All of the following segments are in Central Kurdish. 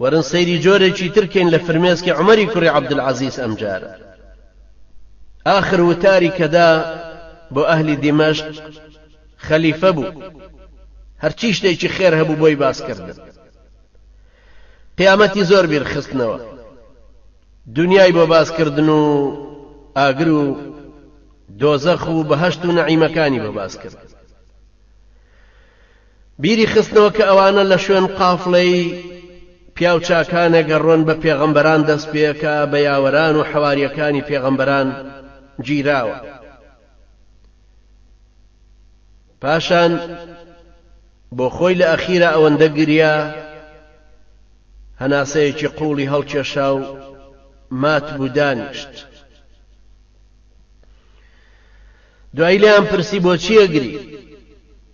وەرن سەیری جۆرێکی تر کەین لە فرمێسکی عومەری کوڕی عەبدولعەزیز ئەمجارە ئاخر وتاری کە دا بۆ ئەهلی دیمەشق خەلیفە بوو هەرچی شتێکی خێر هەبوو بۆی باس کردن قیامەتی زۆر بیرخستنەوە دنیای بۆ باس کردن و ئاگر و دۆزەخ و بەهەشت و نەعیمەکانی بۆ باس کرد بیری خستنەوە کە ئەوانە لە شوێن قافڵەی پیاو چاکانەگە رۆن بە پێغەمبەران دەست پێکا بە یاوەران و حەواریەکانی پێغەمبەران گیراوە پاشان بۆ خۆی لە ئەخیرا ئەوەندە گریا هەناسەیەکی قوڵی هەڵکێشا و مات بوو دانیشت دوای لێیان پرسی بۆ چیە گری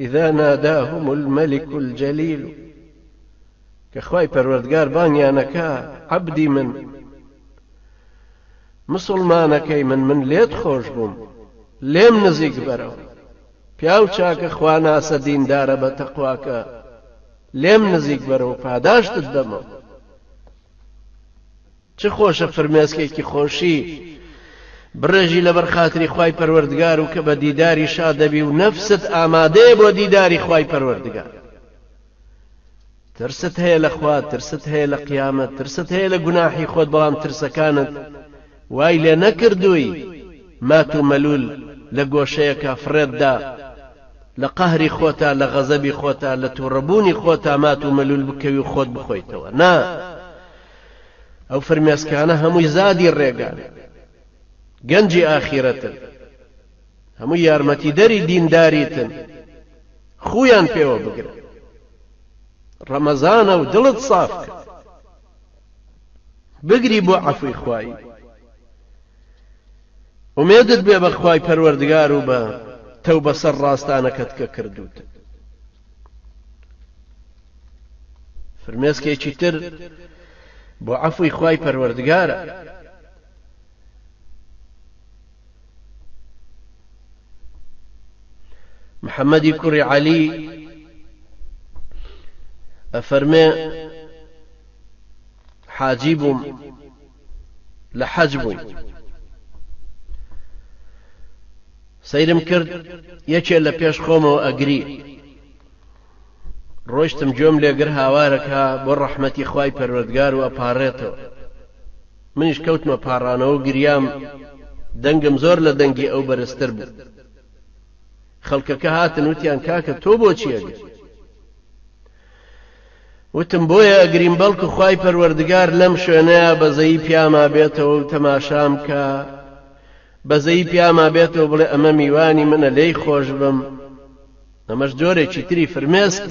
اذا ناداهم الملک الجلیل کە خوای پەروەردگار بانگیان ئەکا عەبدی من مسوڵمانەکەی من من لێت خۆش بووم لێم نزیک بەرەوە پیاو چاکە خواناسە دیندارە بە تەقواکە لێم نزیک بەرەوە پاداشتت دەمەوە چ خۆشە فرمێسکێکی خۆشی بڕێژی لەبەر خاتری خوای پەروەردگار و کە بە دیداری شاد دەبی و نەفست ئامادەیە بۆ دیداری خوای پەروەردگار ترست هەیە لە خوا ترست هەیە لە قیامەت ترست هەیە لە گوناحی خۆت بەڵام ترسەکانت وای لێ نەکردووی مات و مەلول لە گۆشەیەکە فڕێتدا لە قەهری خۆتا لە غەزەبی خۆتا لە تووڕەبوونی خۆتا مات و مەلول بکەوی و خۆت بخۆیتەوە نا ئەو فرمێسکانە هەمووی زادی ڕێگان گەنجی ئاخیرەتن هەموو یارمەتیدەری دینداریتن خویان پێوە بگرن ڕەمەزانە و دڵت ساف کە بگری بۆ عەفوی خوایی ئومێدت بێ بەخوای پەروەردگار و بە تەو بەسەر ڕاستانەکەت کە کردوتە فرمێسکێکی تر بۆ عەفوی خوای پەروەردگارە محەممەدی کوڕی عەلی ئەفەرمێ حاجی بووم لە حەج بووین سەیرم کرد یەکێ لە پێش خۆمەوە ئەگری ڕۆشتم گوێم لێگر هاوارەکە بۆ ڕەحمەتی خوای پەروەردگار و ئەپارێتەوە منیش کەوتمە پاڕانەوە گریام دەنگم زۆر لە دەنگی ئەو بەرزتر بوو خەڵکەکە هاتن وتیان کاکە تۆ بۆ چیەگر وتم بۆیە ئەگریم بەڵکو خوای پەروەردگار لەم شوێنەیا بەزەیی پیاما بێتەوە و تەماشام کا بەزەیی پیاما بێتەوە بڵێ ئەمە میوانی منە لێی خۆش بم ئەمەش جۆرێکی تری فرمێسکە.